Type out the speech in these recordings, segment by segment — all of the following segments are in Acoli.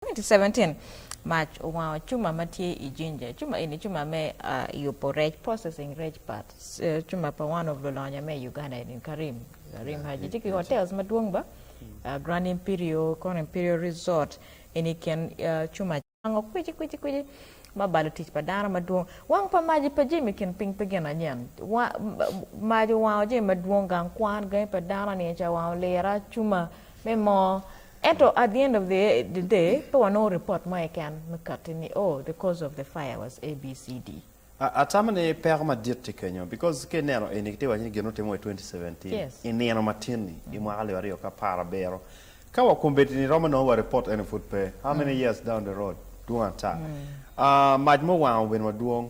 2017 Mac owango cuma ma tye i jinja. Cuma eni cuma me yubo rec, processing rec part. Cuma pa one of lulonya me Uganda eni Karim, Karim Haji. Tye ki hotels madwong ba, Grand Imperial, kono Imperial Resort eni i kin cuma. Wango kwici kwici kwici ma balo tic pa dano madwong. Wang pa mac pa jami kin piny pe gin anyen. Mac owango jami madwong, gang kwan, gangi pa dano, niye ca owango lira, cuma, me moo ento at the end of the day pe wanongo report mo keken me kati ni oh the cause of the fire was ABCD. Atamo ni peko madit tye kenyo because ka ineno eni kitye ka waco ni gin otimme wa i twenty seventeen Yes. i nino matin-ni i mwaka alip aryo ki apar abiro ka wakombeddi-ni romo nongo wa report ene pud pe how many years down the road dwong ata. Ah, mac muwango bene madwong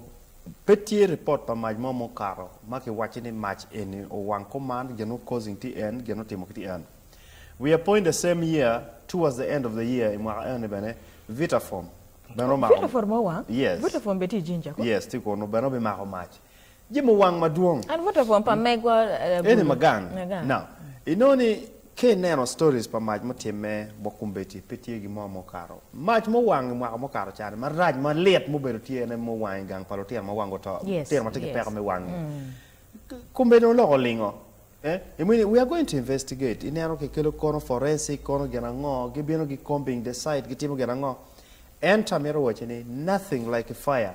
Pe tye ripot pa mac mo mukato ma ki wacci ni mac eni owang kom man gin o causing ti en gin otimo ki ti en. We are point the same year towards the end of the year i mwaka eni bene Vitaform bene omako mac. Vitaform owang? Yes. Vitaform bene tye i Jinja kong? Yes tye kunu bene obi mako mac. Jami owang madwong. An Vitaform pa megwa Eni Magang. Now inongo ni Ka ineno stories pa mac mutimme bot kombeddi, pe tye gin mo ma okato. Mac muwang i mwaka mukato cani marac malit mubedo tye ene muwang i gang pa lutino ma wang guto, lutino ma tye ki peko me wang ni. Kombeddi dong loko olingo. Eh, imini we are going to investigate, ineno ki kelo kono forensic kono gin ango, gi bino gi combing the site gi timo gin ango. Ento amito waci ni nothing like a fire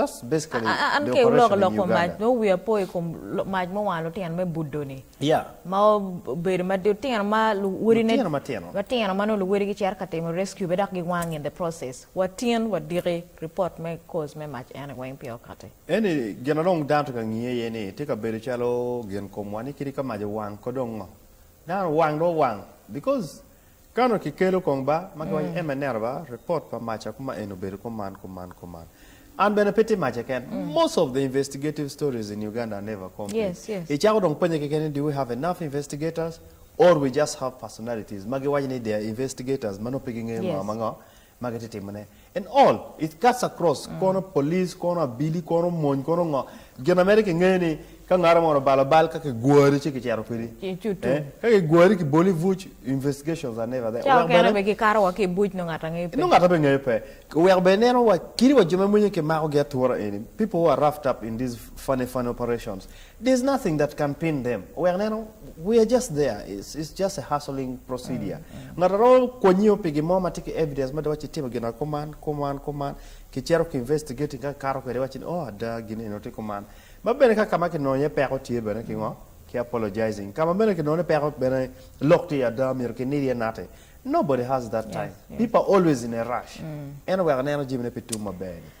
An ke wuloko lok kom mac nongo wiya po i kom mac ma owang lutino me budoni ma obedo ma lutino ma luwodine matino ma nongo luwodigi cito ka timo rescue be dok giwang in the process watyen wadiki report me cause me mac eni weng pire okati. Eni gin ma dong dano tye ka ngiye aye ni tye ka bedo calo gin komwa ni kadi ka mac owang ko dong ngo dano owang dong owang because Kano ki kelo kong ba ma kiwaco ema ineno ba report pa maca kuma en obedo kuman kuman kuman an bene pe tye maca ken most of the investigative stories in Uganda are never complete icako dong penye keken ni do we have enough investigators or we just have personalities ma giwaco ni they are investigators ma nongo pe gingeyo ngo ma ngo ma gitye timone and all it cuts across kono police kono abili kono mony kono ngo gin na mere kingeyo ni ka ngaro moni obalo bal ka kigwari ci kicito kwedi eh ka kigwari kiboli i buc investigations are never there oweko bene be kikato wa ki i buc nongo ngat angeyo pe nongo ngat ape ngeyo pe oweko bene ineno wa kidi wa jo ma mwenye kimako gi atura eni people who are roughed up in these funny funny operations There's nothing that can pin them wek neno we are just there it's it's just a hustling procedure ngat aromo kwonyo pi gin mo ma tye ki evidence mada waci itimo gin kuman kuman kuman ki cito ki investigating ka kikato kwede iwaci ni oh ada gin eno tye kuman ma bene ka kama kinongo iye peko tye bene ki ngo ki apologizing kama bene kinongo ni peko bene lok tye ada myero ki nid iye nati nobody has that time people are always in a rush en oweko neno jami ne pe tum maber ni.